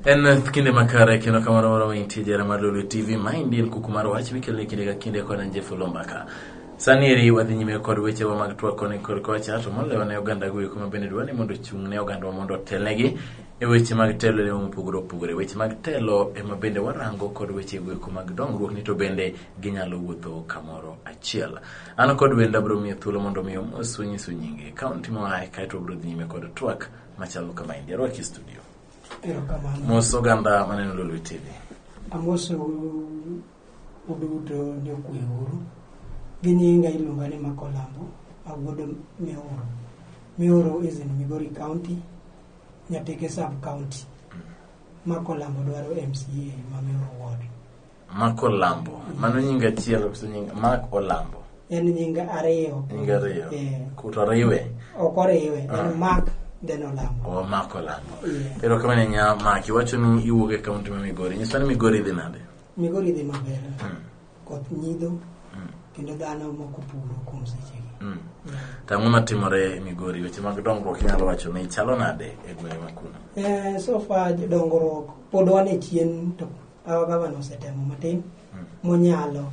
en kinde makare kendo kamano moro ma intie jara mar lolo tv ma indi en kuku mar wach mikeloni kinde ka kinde kod anje fulo mbaka sani eri wadhi nyime kod wechewa mag twak koni kod kocha to moloyo ne oganda go eko ma bende dwa ni mondo ochung' ne oganda wa mondo otelnegi e weche mag telo ne mopogore opogore weche mag telo ema bende warango kod weche go eko mag dongruok ni to bende ginyalo wuotho kamoro achiel. An kod wenda bro miyo thuolo mondo mi omos wanyisu nyinge, kaunti moaye kaeto wabro dhi nyime kod twak machalo kama endi. Arwaki e studio. Erokamano. Mos oganda maneno Lolwe TV. Amoso uduto jokwe uru. Gi nyinga iluonga ni Makolambo, awuod Mioro. Mioro is in Migori County, Nyateke Sub County. Makolambo dwaro MCA ma Mioro Ward. Mak Olambo. Mano nying achiel koso nying Mak Olambo. En nying ariyo. Nying ariyo. Eh. Kuto riwe. Ok oriwe. En ah. Mak then Olambo. Oh, Mak Olambo. Yeah. Ero kama nya Mak iwacho ni iwuok e kaunti ma Migori. Nyisa ni Migori dhi nade? Migori dhi maber. Hmm. Koth nyido. Hmm. Kendo dhano moko puro kuom sechegi. Hmm. To ang'o matimore e Migori? Weche mag dongruok inyalo wacho ni chalo nade e gwenge ma kuno? Eh, so far dongruok pod wan e chien to Our governor osetemo matin monyalo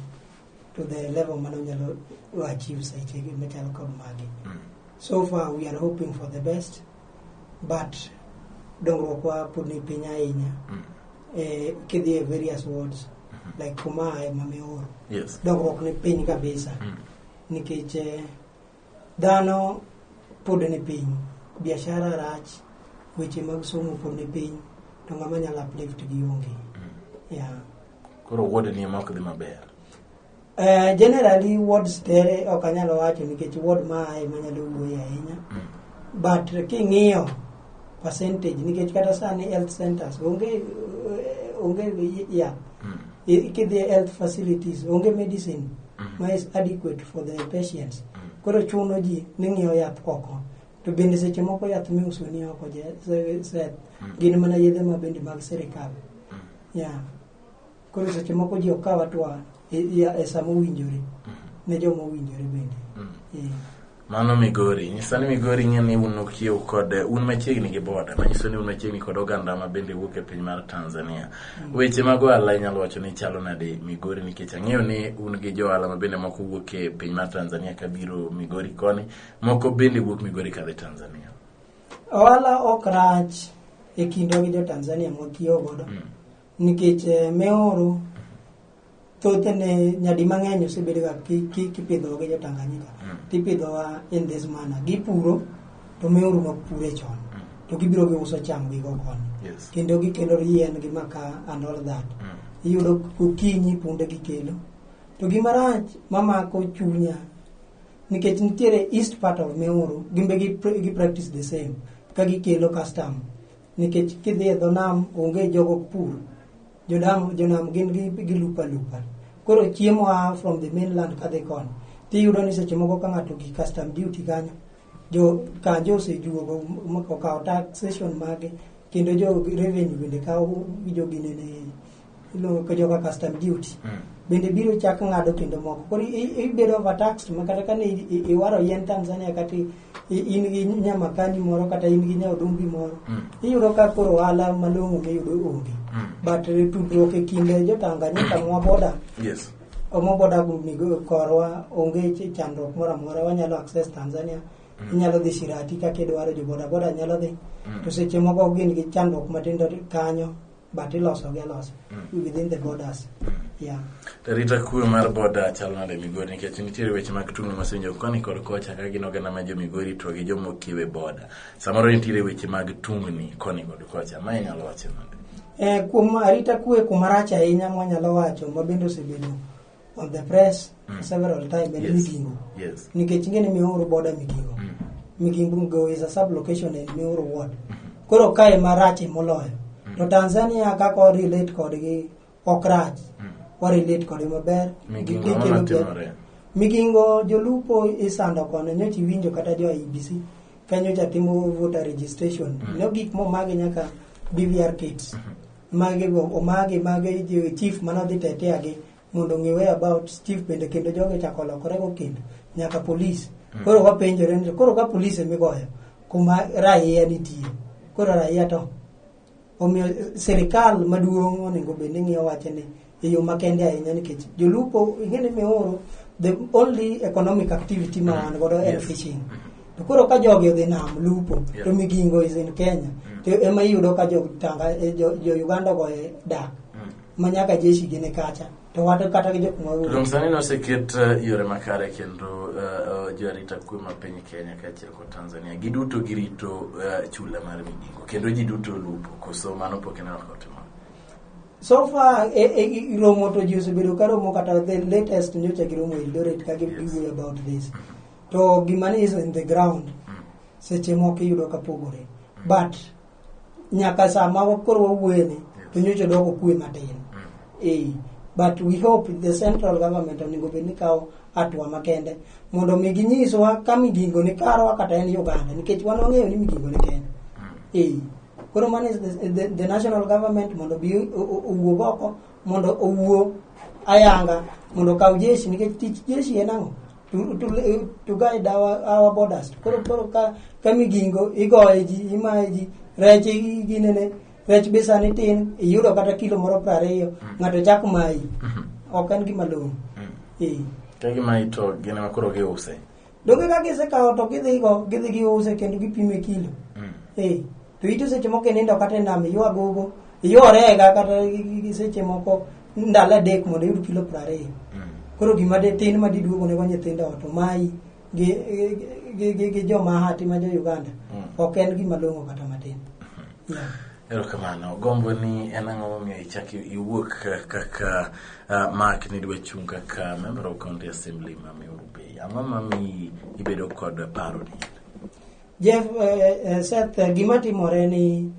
to the level mane onyalo achieve sechegi machalo kod magi. So far we are hoping for the best but dongruok wa pod ni piny ahinya. Eh, kidhi e various wards like kuma aye ma Miuru. Yes. Dongruok ni piny kabisa nikech eh, Dhano pod ni piny, biashara rach, weche mag somo pod ni piny, to ng'ama nyalo uplift gi onge. Yeah. Koro ward ni ema ok dhi maber. Eh, generally wards tere ok anyalo wacho nikech ward ma aye manyalo wuoye ahinya. But king'iyo percentage nikech kata sani health centers onge eh, onge yath Mm. I- kidhi e health facilities onge medicine Mm. ma is adequate for the patients Mm. koro chuno ji ni ng'iewo yath oko to bende seche moko yath miuso ni oko je- se- se- Mm. gin mana yedhe ma bende mag sirikal Mm. yeah. koro seche moko ji okaw atwa e, e, e sama owinjore mm-hmm. ne joma owinjore bende mm. e. mano migori nyiso ni migori ng'e ni un okiew kod un machiegni gi boda manyiso ni un machiegni kod oganda ma bende wuok e piny mar tanzania mm. weche mag ohala inyalo wacho ni chalo nade migori nikech ang'eyo ni un gi jo ohala ma bende moko wuok e piny mar tanzania ka biro migori koni moko bende wuok migori kadhi tanzania ohala ok rach e kindwa gi jo tanzania mwakiewo godo mm. Nikech eh, meoro thothne nyadi mang'eny osebedoga ki- ki- kipidhowa gi jotanganyika tipidhowa in this manner gipuro to meoru nok pure chon to gibiro giuso cham gigo koni Yes. kendo gikelo yien gi maka and all that iyudo okinyi punde gikelo to gima rach mamako chunya nikech nitiere east part of meoru gimbe gi, gi practice the same ka gikelo custom nikech kidhi e dho nam onge jogo pur jodam jonam gin gi gi lupa lupa koro chiemo a from the mainland kadhi koni tiyudo ni seche moko ka ng'ato gi custom duty kanyo jo kanjo osejuogo m- okawo taxation mage kendo jo revenue bende kawo joginene iluongo ka joka custom duty Mm. bende biro chak ng'ado kendo moko koro i- ibedo overtaxed ma kata kane i- i- iwaro yien tanzania kata i- i- in gi nyamakani moro kata in gi nyaodumbi moro Mm. iyudo ka koro ohala malong'o miyudo onge Mm. but eh, tudruok e kind jotanganyika mwa boda yes omo boda migo korwa onge ch- chandruok moro amora wanyalo access tanzania inyalo dhi shirati kaka idwaro jo bodaboda nyalo dhi Mm. to seche moko gin gi chandruok matindo kanyo but iloso gi alosa mm. within the borders mm. rita kwe mar boda chal nade migori nikech nitiere weche mag tungni masenjo koni kod kocha ka gin oganda ma jo migori to gi joma okiewe boda samoro nitiere weche mag tungni koni kod kocha ma inyalo wacho nade eh, kuom arita kwe kumarach ahinya mwanyalo wacho ma bende osebedo on the press for several time and Yes. Migingo. Yes. Nikech ing'e ni Miuru border Migingo. Migingo is a sub-location in Miuru ward. Koro kae marach moloyo. To Tanzania kaka o relate kodgi ok rach. O relate kodgi maber. Migingo Gi- gikelo ema ber. timore. Migingo jolupo isando kono nyocha iwinjo kata jo IBC ka nyocha timo voter registration. Ne gik momagi nyaka BVR kits. mage go omage mage jo- chief mane odhi tetea gi mondo ng'e way about chief bende kendo jogo chako lokore go kendo nyaka police koro wapenjore ni koro ka police emigoyo kuma raia nitie koro raia to omiyo eh, sirikal maduong' onego bed ni ng'iyo wache ni e yo makende ahinya nikech jolupo ing'eni mioro the only economic activity ma wan godo en Yes. fishing to koro ka jogi odhi nam lupo Yeah. to migingo is in kenya to ema iyudo ka jotanga eh, jo jo uganda go e dak ma nyaka jeshi gine kacha to wata kata gi jok mawuok Rom sani noseket eh, yore makare kendo eh, eh, joarita kwe ma piny Kenya kaachiel kod Tanzania giduto girito eh, chula mar migingo kendo ji duto lupo koso mano pok ineno ka otimore. so far e, e, romo to ji osebedo ka romo kata the latest nyocha giromo eldoret ka giwuoyo about this to gima ni is in the ground seche moko iyudo ka pogore but nyaka sama koro wawuoyeni to nyocha doko kwe matin eh, but we hope the central government onego bed ni kawo hatua makende mondo mi ginyiswa ka migingo ni karwa kata en uganda nikech wan wang'eyo ni migingo ni kenya eh. koro mano is the, the, the national government mondo bi o- o- owuog oko mondo owuo ayanga mondo okaw jeshi nikech tich jeshi en ang'o to, to, to guide our, our borders koro koro ka, ka migingo igoye ji imaye ji rech i- ginene rech be sani tin iyudo kata kilo moro piero ariyo ng'ato chak mayi ok en gima long'o Eh. Kagi ma ito gin ema koro giuse. Donge ka gisekawo to gidhigo gidhi giuse kendo gipimo e kilo. Mm. Eh, to ito seche moko inindo kata e nam iyo agogo, iyo orega kata gi- gi- gi seche moko ndalo adek mondo iyud kilo piero ariyo. Mm. Koro gima de tin ma diduogo nego nyithindo ot omayi gi gi- gi gi joma hati ma jo Uganda Mm. ok en gima long'o kata matin. Yeah. Erokamano. Gombo ni en ang'o momiyo ichak iwuok kaka uh, Mark nidwa chung' kaka member of county assembly ma Meru Bay. Ang'o mamiyi ibedo kod paro ni? Jeff, eh, eh, Seth, eh, gima timore ni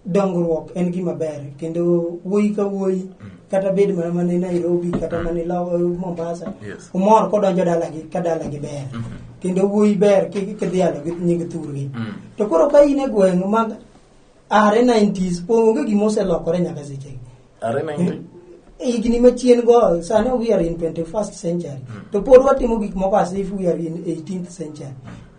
dongruok en gima ber kendo wuoyi ka wuoyi kata bed mana mane Nairobi kata mane Lo- eh, Mombasa Yes. umor kodonjo dalagi ka dalagi ber kendo wuoyi ber kik kidhialo gi nying thurgi Mm. to koro ka in e gweng' mag are 90s po- onge gima oselokore nyaka sechegi Are 90? higni machien go sani we are in 21st century to pod watimo gik moko as if we are in 18th century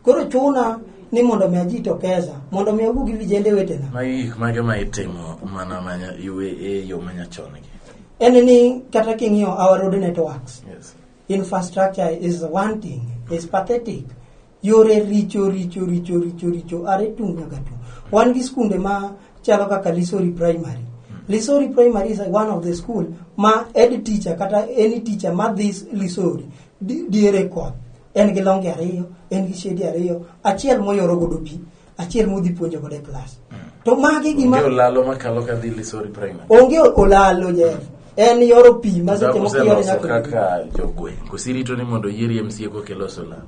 koro chuna ni mondo mi ajitokeza mondo mi awuo gi vijende wetena Magi gik mage ma itimo mana manya iwe e yo manyachon gi. en ni kata king'iyo our road networks Yes. infrastructure is one thing is pathetic yore richo richo richo richo richo are tung' nyaka tung' wan gi skunde ma chalo kaka lisori primary lisori primary is one of the school ma ed teacher kata any teacher ma dhi s- lisori di- diere koth en gi longe ariyo en gi shedi ariyo achiel moyoro godo pi achiel mudhi puonjo godo e klas to magi gima Onge olalo makalo ka dhi Lisori Primary. onge olalo jeff en yoro pi ma seche moko yore Useloso nyaka kaka jogweng'. Kosirito ni mondo oyieri MCA koka iloso lal.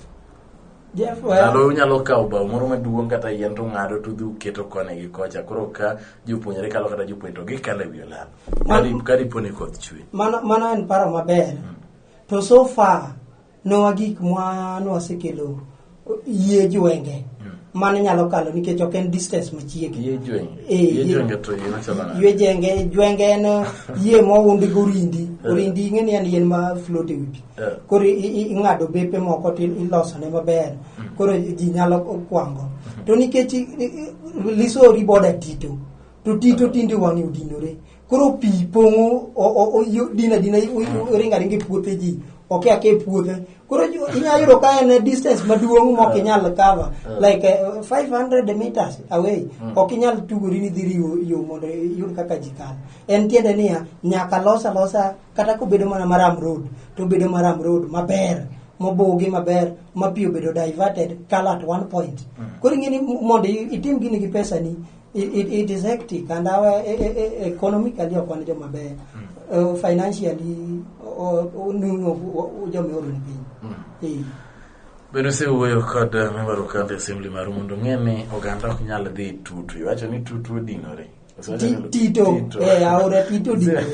jeff well, Lalo unyalo kawo bao moro maduong' kata yien to ng'ado to udhi uketo koni gi kocha. Koro ka jopuonjre kalo kata jopuonj to gikalo e wi olalo. Ka di- Ka dipo ni koth chwe. mano mano en paro maber to so far nowa gik mwa nwasekelo yie jwenge mane nyalo kalo nikech ok en distance machiegni Yie jwenge. Eh, Yie yie- jwenge to yie machalo nade? yue jenge jwenge en uh, yie moundi gi orindi Eh. orindi ing'e ni en yien ma float e wi pi Eh. koro i- i- ing'ado bepe moko to ilosone maber koro ji nyalo kwango to nikech i- i- lisori boda tito to ti to tinde wang'e odinore koro pi pong'o o- o- o- yo- din adina o- o- oringo aringa e puothe ji oke ake e puothe koro ju- inyalo yudo ka en distance maduong' ma ok inyal cover like eh, 500 meters away ok inyal tugori ni dhiri yo- yo mondo iyud kaka ji kalo en tiende niya nyaka los alosa kata kobedo mana maram road to obedo maram road maber mobugi maber ma pi obedo diverted kalo at one point koro ing'e ni mondo i- itim gini gi pesani It, it, it is hectic and our e- e- e- economically ok wan joma beyo uh, financially o- o- nuno o- o- joma ioro ni piny Eh. Bende osewuoyo kod eh, member of county assembly maru mondo ong'e ni oganda ok nyal dhi tutu. Iwacho ni tutu odinore. Osewacho Ti- ni- Tito, eh, aora Tito odinore.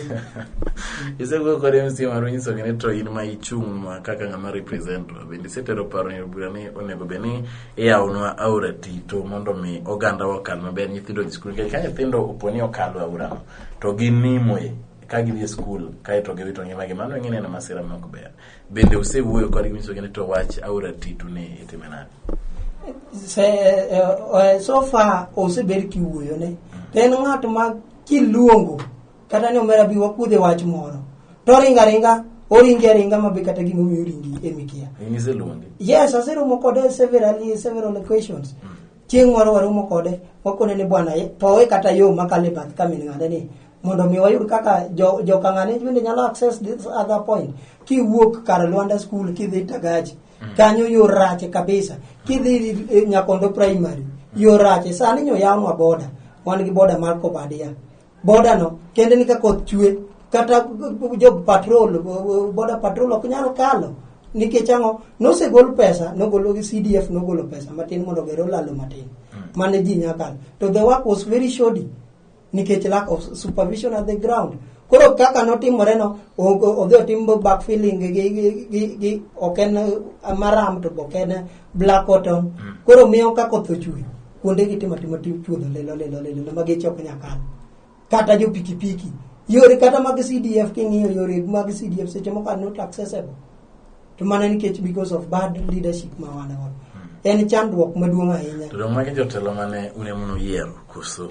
Isewuoyo kod MC maru nyiso ni to in ma ichung' ma kaka ng'ama represent wa. Bende isetero paro ni bura ni onego bed ni iyawnwa aora tito mondo mi oganda wakal maber nyithindo dhi skul nikech ka nyithindo opo ni okalo aorano to ginimo e ka gidhi e skul kaeto giwito ngimagi mano ing'e neno masira ma ok ber bende usewuoyo kodgi nyisogi ni to wach aora tito ni itime nade se, uh, so far osebed kiwuoyone to en ng'at ma kiluongo kata ni omera bi wakuodhe wach moro to oringo aringa oringi aringa ma be kata gima omiyo oringi emikia in iseluonge yes aseromo kode severally several occasions chieng' moro waromo kode wakone ni bwana ye- powe kata yo makalo e bath kamin ng'ane ni mondo mi wayud kaka jo- joka ng'ane bende nyalo access this other point kiwuok kar lwanda school kidhi tagaji kanyo yo rache kabisa kidhi eh, nyakondo primary yo rache sani nyoyawnwa boda wan gi boda mar kobadia boda no kende ni ka koth chwe kata jo patrol boda patrol ok nyal kalo nikech ang'o nosegol pesa nogolo gi cdf nogolo pesa matin mondo gero lalo matin hmm. mane ji nyakalo to the work was very shoddy nikech lack of supervision at the ground koro kaka notimore no odhi otim back feeling gi ok en maram to ok en black cotton hmm. koro miyo ka koth ochwe kuonde gi timo timo tim chuodho lilo lilo lilo ma geche ok nyal kalo kata jo pikipiki yore kata mag CDF king'iyo yore mag CDF seche moko are not accessible to mana nikech because of bad leadership ma wan go en chandruok maduong' ahinya To jomagi jotelo mane une muno yiero koso?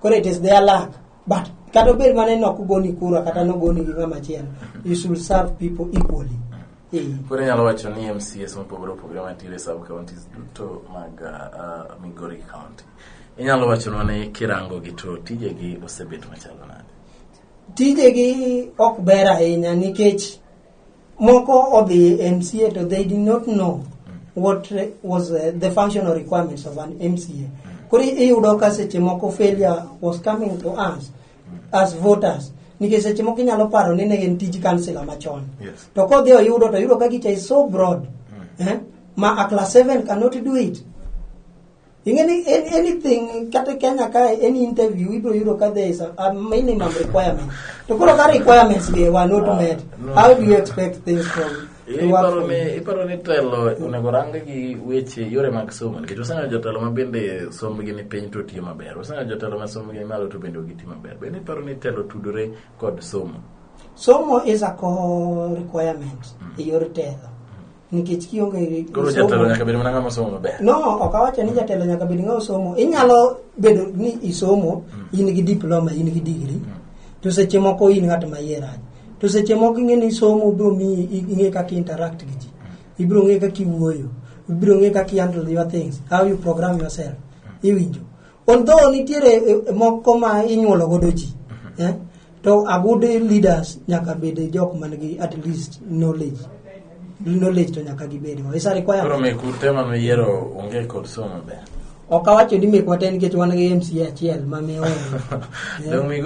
koro it is their luck but kata obed mana ni ok ogoni kura kata nogoni gi ng'ama chielo you should serve people equally Eh, koro inyalo wacho ni mcs mopogore opogore mantiere e sub counties duto mag uh, uh, migori county inyalo wachonwa ni kirango gi to tijegi osebet machalo nade tijegi ok ber ahinya nikech moko odhi e mca to they did not know what was uh, the functional requirements of an mca koro iyudo ka seche moko failure was coming to us as voters nikech seche moko inyalo paro ni ne en tij kansila machon Yes. to kodhi oyudo to yudo ka gicha is so broad eh? ma a class 7 cannot do it Ingeni an- anything kata Kenya ka any interview ibiro yudo ka there is a, a minimum requirement. To koro ka requirements be were not met, no. how do you expect things from to work Iparo from ni iparo ni telo onego rang gi weche yore mag somo nikech waseneno jotelo ma bende sombgi ni piny to tiyo maber. Waseneno jotelo ma sombgi ni malo to bende ok giti maber. Bende iparo ni telo tudore kod somo. somo is a core requirement e yor telo. nikech kionge gi Koro somo- jatelo nyaka bed mana ng'ama osomo maber. no ok awacho ni jatelo nyaka bed ng'a osomo inyalo bedo ni isomo in gi diploma in gi digri to seche moko in ng'at ma iye rach to seche moko ing'e ni somo biro miyi i- ing'e kaka interact gi ji ibiro ng'e kaka iwuoyo ibiro ng'e kaka handle your things how you program yourself iwinjo Although nitiere eh, moko ma inyuolo godo ji, mhm. eh? to a good leaders nyaka bed jok man gi at least knowledge. Knowledge to nyaka gibed. It's a requirement. Koro me kurtema me yero onge kod somo ber. ok awacho ni mekwa te nikech wan gi mca achiel ma mioro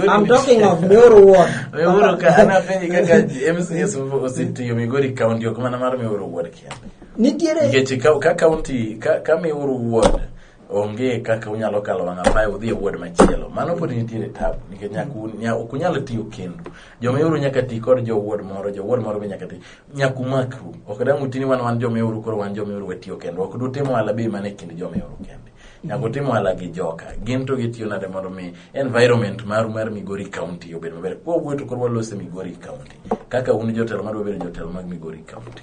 I'm talking of mioro ward mioro ka an apenji kaka mcs osetiyo migori county ok mana mar mioro ward kende nitiere nikech ka county ka mioro ward onge kaka unyalo kalo wang' apaye udhi e ward machielo mano pod nitiere tabu nikech nyaka un- nya- ok unyal tiyo kendu jomeuru nyaka ti kod jo ward moro jo ward moro be nyaka ti nyaka umakru ok dang' uti ni wan wan jomeuru koro wan jomeuru watiyo kendu ok dutim ohala be mana e kind jomeuru kende nyaka utim ohala gi joka gin to gitiyo nade mondo mi environment maru mar migori county obed maber kwa wuoyo to koro walose migori county kaka un jotelo madwa bedo jotelo mag migori county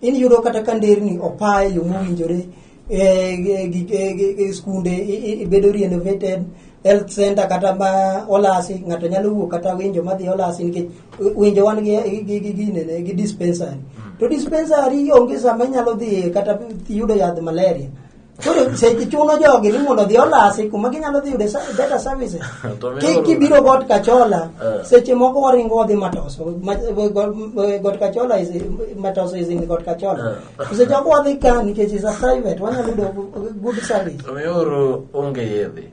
in yudo kata ka nderni opa e yo mowinjore e skunde ibedo renovated health center kata ma olasi ng'ato nyalo wuok kata winjo madhi olasi nikech winjo wan ginene gi dispensary to dispensary onge sama inyalo dhi kata yudo yadh malaria Koro seche chuno jogi ni mondo odhi olasi kuma ginyalo dhi yude sa- better services. To mi Ki- oro- Kibiro got kachola, Eh. seche moko waringo wadhi matoso. Ma- got- Got kachola is, matoso is in got kachola. Eh. To Seche moko wadhi ka nikech is a private, wanyalo yudo good service. Omiyo oro onge yedhe.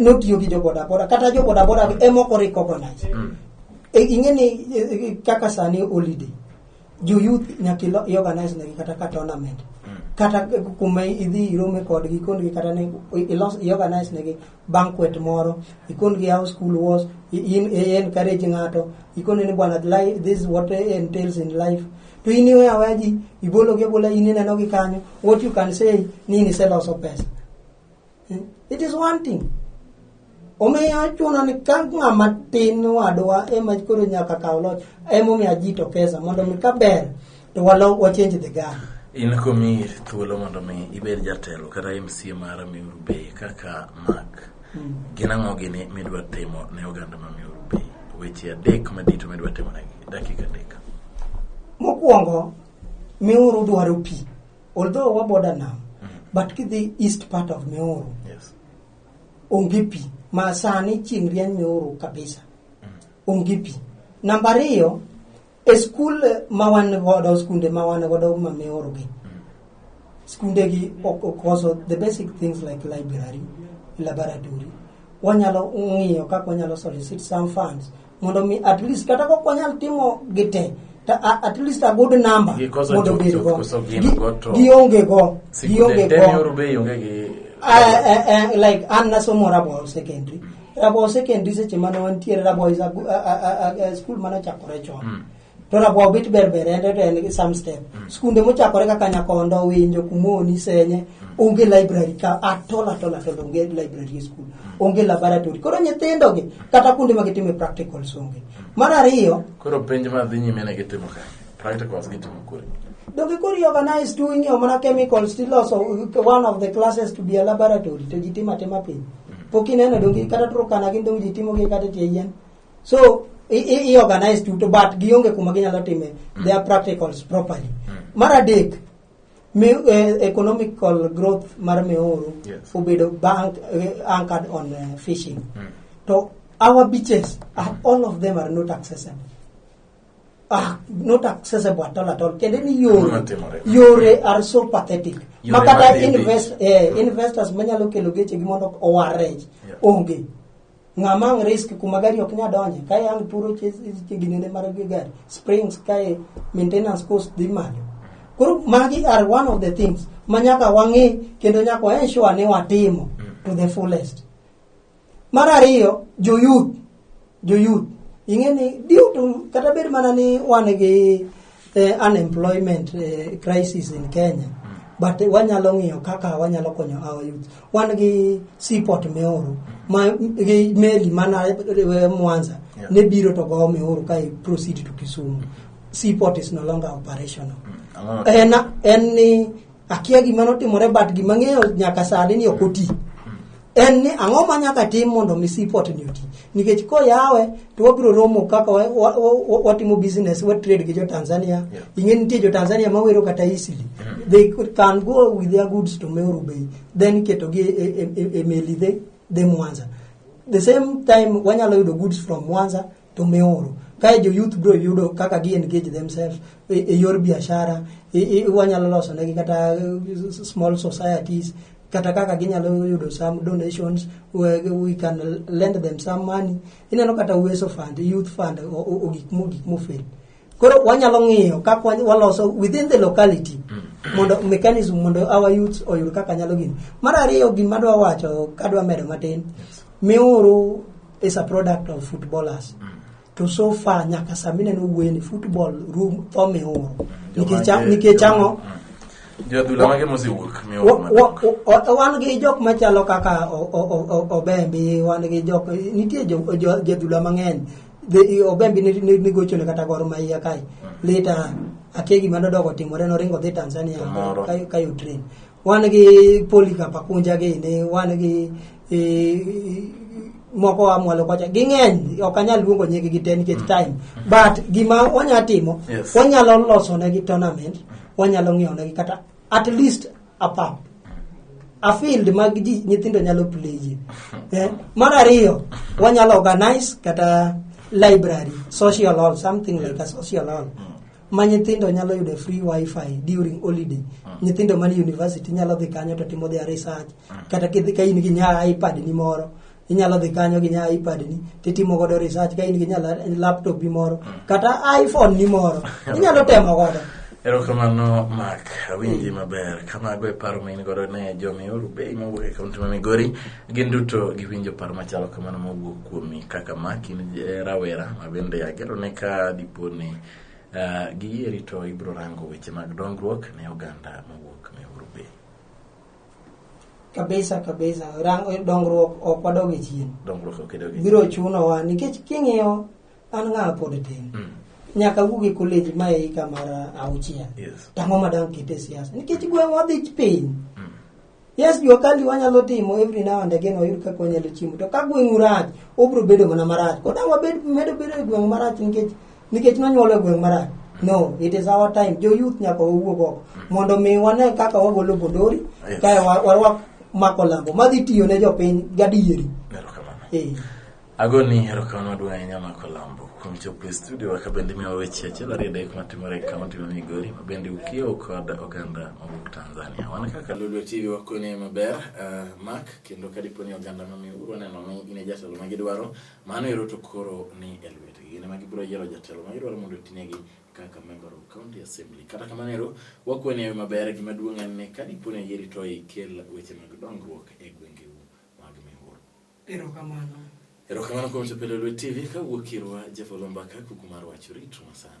notiyo gi jobodaboda kata jobodaboda emok orecognize Mm. E, ing'e ni e, e, kaka sani holiday jo youth nyaka ilo- iorganize negi kata ka tournament kata kuma idhi irome kodgi ikondgi kata ne ilos iorganize negi banquet moro ikondgi how school was i- in i encourage ng'ato ikone ni bwana li- this is what entails in life to in iwe aweya ji ibologi abola in inenogi kanyo what you can say ni niseloso pesa Eh, it is one thing omiyo chuno ni ka ng'ama tin wadwa ema koro nyaka kaw loch emomiyo ji to pesa mondo mi ka ber to walo wachenj the gun in komi thuolo mondo mi ibed jatelo kata mca mar miuru bay kaka mak mm. gin ang'o gini midwa timo ne oganda ma miuru bay weche adek madito midwa timo negi dakika adek mokwongo miuru dwaro pi although wa border nam but kidhi east part of Meru Yes. onge pi ma sani chieng' rieny Meru kabisa onge pi namba ariyo e skul ma wan godo skunde ma wan godo ma Meru gi skunde gi ok okoso the basic things like library laboratory wanyalo ng'iyo kaka wanyalo solicit some funds mondo mi at least kata kok wanyal timo gite ta, a- at least a good number Gikoso mondo chuth obed chuth go koso gin Gi- go to- gionge go gionge Sikunde go yoru be ionge gi Ah, eh, eh, like an nasomo Rabaul Secondary. Rabaul Secondary seche mane wantiere Rabaul is a, gu- a, a, a, a school mane ochakore chon. to rabwa obit berberende to en gi some step mm. skunde mochakore kaka nyakondo winjo kumoni senye mm. onge library ka atol atol atol onge library e skul mm. onge laboratory koro nyithindo gi kata kuonde ma gitime practicals onge mar ariyo koro penj ma dhi nyime ne gitimo ka practicals gitimo kure donge koro organize tu ing'eyo mana chemicals tiloso one of the classes to be a laboratory to ji timo atima piny pok ineno donge kata turkana gin donge ji timogi kata tie yien so i, i, i organize duto but gionge kuma ginyalo time mm. their practicals properly mm. mar adek mi, eh, economical growth mar meoru yes. obedo bank eh, anchored on uh, fishing mm. to our beaches are, mm. all of them are not accessible Ah, not accessible at all at all. Kende ni yore, yore are so pathetic. Makata invest, eh, investors manyalo kelo geche gi mondo owarrej. Yeah. Onge. ng'a mang' risk kuma gari ok nya donje kae ang' puro ginene mar gari springs kae maintenance cost dhi malo koro magi are one of the things ma nyaka wang'e kendo nyaka wa ensure ni watimo to the fullest mar ariyo joyuth joyuth ing'e ni due to kata bed mana ni wan gi eh, unemployment eh, crisis in Kenya but eh, wanyalo ng'iyo kaka wanyalo konyo our youth wan gi seaport Meoru ma gi meli mana eh, Mwanza Yeah. ne biro to go Meoru ka i proceed to Kisumu seaport is no longer operational Ang'o- en en ni akia gima notimore but gima ng'eyo nyaka sani ni ok oti en ni ang'o ma nyaka tim mondo mi sipot ni oti nikech koyawe to wabiro romo kaka wa- wa- wa- watimo business wa trade gi jo tanzania Yeah. ing'e nitie jo tanzania mawero kata easily they could- can go with their goods to meru bay then ketogi e, e, e, e meli dhe dhe mwanza the same time wanyalo yudo goods from mwanza to miuru kae jo youth bro yudo kaka gi engage themselves e, e yor biashara e, e, wanyalo loso negi kata eh, small societies kata kaka ginyalo yudo some donations we, we can lend them some money ineno kata uweso fund youth fund ogik mo gik mofel koro wanyalo ng'iyo kaka waloso within the locality mondo mechanism mondo our youth oyud kaka nyalo gini mar ariyo gima dwa wacho kadwa medo matin miuru is a product of footballers mm. to so far nyaka sami neno wueni football room tho miuru mm. nikech ang'o wan gi jok machalo kaka obembi wan gi jok nitie jadhula mang'eny Dhi- ogembi ni- ni- nigochone kata gor ma iya kae lita akia gima nodok otimore noringo dhi tanzania Kamoro. ka- ka utrain wan gi polikap akunja gini wan gi eh, moko amwalo kocha ging'eny ok anyal luongo nyigi gi te nikech time but gima wanya timo Yes. wanyalo losonegi tournament wanyalo ng'iewonegi kata at least a pap a field mag ji nyithindo nyalo pleye eh? mar ariyo wanyalo organize kata library social hall something like a social hall ma nyithindo nyalo yudo free wifi during holiday nyithindo man university nyalo dhi kanyo to timo their research kata kidhi ka in gi nya ipad ni moro inyalo dhi kanyo gi nya ipad ni titimo godo research ka in gi nya laptop ni moro mm. kata iphone ni moro inyalo temo godo erokamano mak awinji mm. maber kamago e paro main godo ne jomiuru bei mowuok e kaunti ma migori gin duto giwinjo paro machalo kamano mowuok kuomi kaka mak in eh, rawera ma bende agero ne ka dipo ni eh, giyieri to ibro rango weche mag dongruok ne oganda mowuok kabisa kabisa Rang, eh, dongruok ok wadoge chien dongruok ok edogi biro chunowa nikech king'iyo an ng'a pod tin Mm. nyaka wuog e college ma e hika mar auchiel yes tang'o madang kete siasa nikech gweng' wadhi piny Mm. yes jua kali wanyalo timo every now and again wayud kaka wanyalo chiemo to ka gweng' rach obiro bedo mana marach kodang' wabed medo bedo e gweng' marach nikech nikech nonyuolo e gweng' marach no it is our time jo youth nyaka wawuog oko mondo mi wane kaka wagolo bodori Yes. kae wa- warwak mako lambo madhi tiyo ne jopiny gadieri Erokamano. Eh. agoni erokamano maduong' ahinya mako lambo kuom chopo e studio ka bende miwa weche achiel ariyo adek matimore e kaunti ma migori ma bende ukiewo kod oganda mawuok tanzania wan kaka lulu tv wakone maber uh, mak kendo ka dipo ni oganda mamiuru waneno ni in e jatelo ma gidwaro Mano ero to koro ni e lwetgi. Gin ema gibiro yiero jatelo ma gidwaro mondo otinegi kaka member of county assembly. Kata kamano ero, wakwe ni ewe maber, gima duong' en ni ka dipo ni oyieri to ikel weche mag dongruok e gwengeu mag Mihuru. Erokamano. Erokamano kuom chopo e Lolwe TV kawuok irwa Jeff Olombaka, kuku mar wach, ritwa sana.